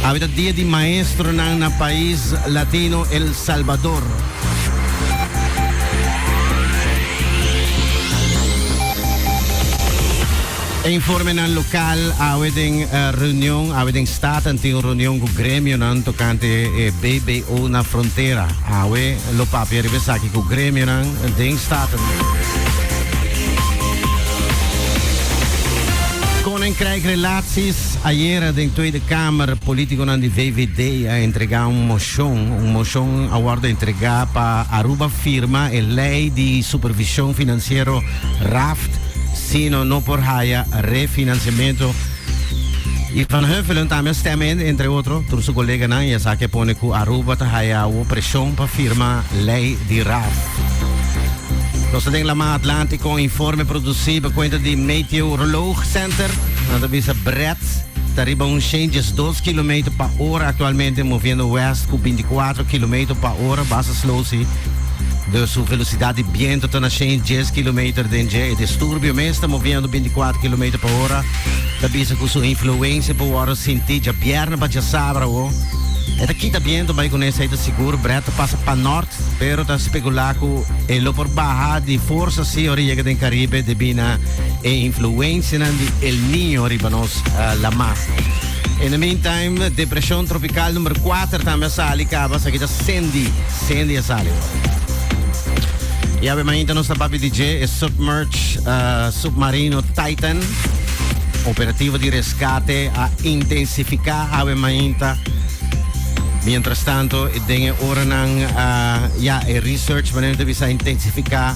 Awe ta dia di maestronan na pais latino El Salvador. E informenan lokal awe den reunion, awe den staten tin un reunion ku gremionan tokante e BBO na frontera. Awe lo papia riba esaki ku gremionan den staten. Koninkrijk Relaat. Sis ayera den Tweede Kamer politiconan di VVD a entrega un mocion. Un mocion a wordo entrega pa Aruba firma e ley di supervision financiero, raft, sino no por haya refinanciamento. Y Van Huffelen tambe a stem in, entre otro, tur su coleganan y esaki a pone cu Aruba ta haya awo presion pa firma ley di raft. Nos ta den lama Atlantico, informe produci pa cuenta di Meteoroloog Center. Nan ta bisa Brett ta riba un shen diesdos kilometer pa ora aktualmente moviendo west ku bintikwatro kilometer pa ora basa slow si. Dus su velosidat di biento ta na shen dies kilometer den dje. E disturbio mes ta moviendo bintikwatro kilometer pa ora. Ta bisa ku su influensia por wòrdu sinti dja bièrnè pa djasabra awor. E ta kita biento bai kuné esei ta sigur Brett ta pasa pa nòrt pero ta spekulá ku e lo por baha di forsa si ora e yega den Karibe debí na e influencianan di El Niño riba nos la masa. In the meantime, depresion tropical number 4 tambe a sali caba, esaki ta Sandy. Sandy a sali ora. Ya be mainta nos ta papi di dje e submerge uh, submarino Titan. Operativo di rescate a intensifica awe mainta. Mientras tanto, den e oranan uh, ya e research manera de bisa intensifica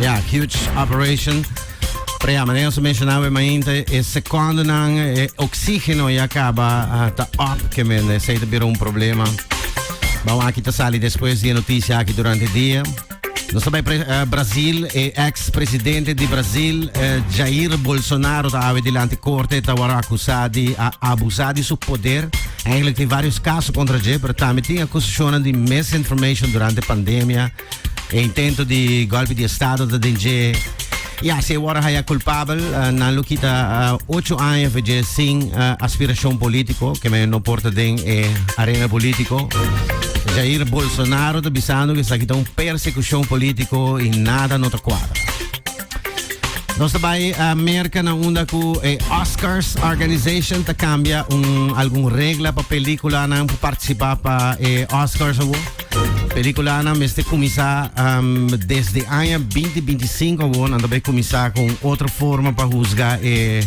Ja, Huge Operation. Prea, maneer ons mencionaba mainte, e secondo nan e oxígeno ya caba ah, ta op, que men eh, se te bira un problema. Vamos aquí te sali después de noticia aquí durante el día. Nos bij pre- eh, Brazil, e ex-presidente de Brazil, eh, Jair Bolsonaro, ta ave delante corte, ta wara acusado de a abusar de su poder. Eigenlijk tem vários casos contra Jair, pero también tem acusaciones de misinformation durante pandemia. E intento di golpe di estado ta den dje. Ya, se wara haya culpabel, uh, nan lo kita uh, ocho aña veje sin uh, aspiracion politico, que me no porta den e arena politico. Jair Bolsonaro ta bisando que sa kita un persecucion politico y nada no ta cuadra. Nos daarbij uh, merken naar onder ku eh, Oscars Organization te cambia un algun regla pa película na participar pa eh, Oscars awo. Peliculanan mester cuminsa um, desde año 2025 awor nan tabay cuminsa con otra forma pa juzga e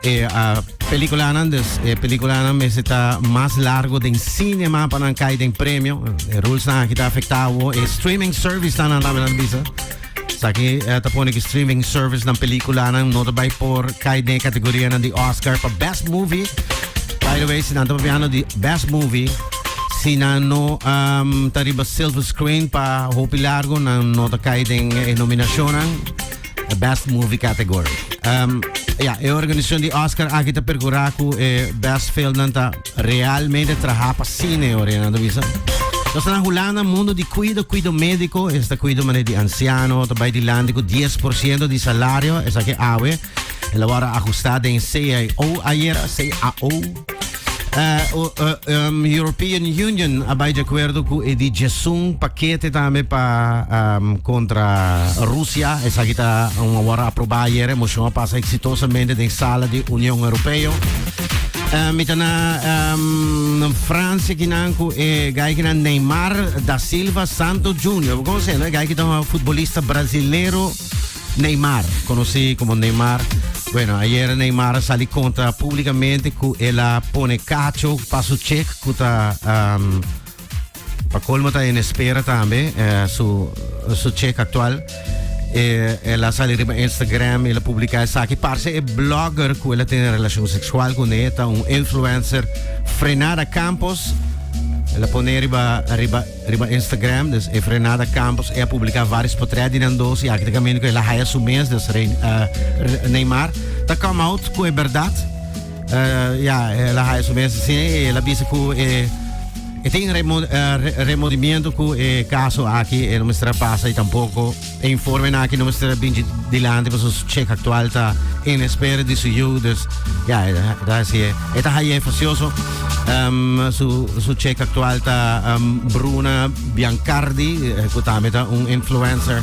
eh, eh, uh, peliculanan dus eh, peliculanan mester ta mas largo den cinema pa nan kai den premio. Eh, rules nan aki ta afecta awor e eh, streaming service nan nan tabay nan bisa. Saki eh, ta pone ki streaming servicenan pelikulanan no ta bai por kai den kategorianan di Oscar pa Best Movie. By the way, si nan ta papiano di Best Movie, si nan no um, ta riba silver screen pa hopi largo, nan no ta kai den e nominacionan. The Best Movie category. Um, ja, e organisacion di Oscar aki ta percura cu e Best Film nan ta Realmente traha pa sine ora e nan ta bisa. Nos ta na Hulanda, mundo di cuido, cuido médico, esta cuido mané di anciano, ta bai dilanti cu 10% di salario, esaki awe, el a wara ajustá den CAO ayer, CAO. Eh, o- eh, em, European Union a bai de acuerdo cu e di Jesún paquete tambe pa em, contra Rusia, esaki ta um, a wara aprobá ayer, e moción a pasa exitosamente den sala di Unión Europeo. Uh, mi ta na um, Francia kinan ku e eh, gai kinan Neymar da Silva Santo Junior. Como se no? Gai kinan uh, futbolista brasileiro Neymar, conocido como Neymar. Bueno, ayer Neymar sali contra públicamente ku ela pone cacho pa su check ku ta um, Pa colmo ta en espera tambe eh, su, su check actual. Eh, el a sali riba Instagram, el a publica esaki. Parce e blogger cu el a tene relacion sexual con e, ta un influencer Frenada Campos. El a pone riba, riba, riba Instagram, dus e Frenada Campos, e a publica varios portret di nan dos, y aki te camino cu el a haya su mes, dus Rein- eh, Re- Neymar. Ta come out cu e verdad. Uh, ya, eh, la haya su mes, sí, eh, la bisa cu, eh, eh, tin remo, eh, re, remordimiento cu, eh, caso aquí, eh, no me estará pasa y tampoco, eh, informe na aquí no me estará bien delante, pues su check actual está en espera de su yo, dus, ya, eh, da, sí, eh, esta haya facioso, um, su, su check actual está, um, Bruna Biancardi, eh, cu también está un influencer,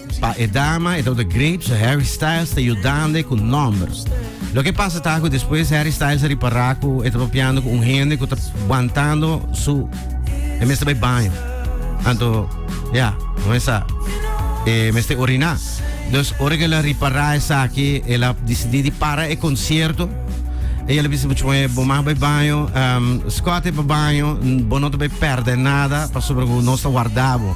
Pa e dama e Dr. Grape su Harry Styles ta yudande ku nòmber. Loke pasa ta ku despues Harry Styles a ripará ku e ta papiando ku un hende ku ta wantando su e mester bai baño. Anto ya, bo mester sa, e mester oriná. Dus ora ku el a ripará esaki el a disidí di para e konsierto i el a bisa puchu mei, bo mag bai baño, Scott e bai baño, bo no ta bai pèrdè nada pasobra ku nos ta warda bo.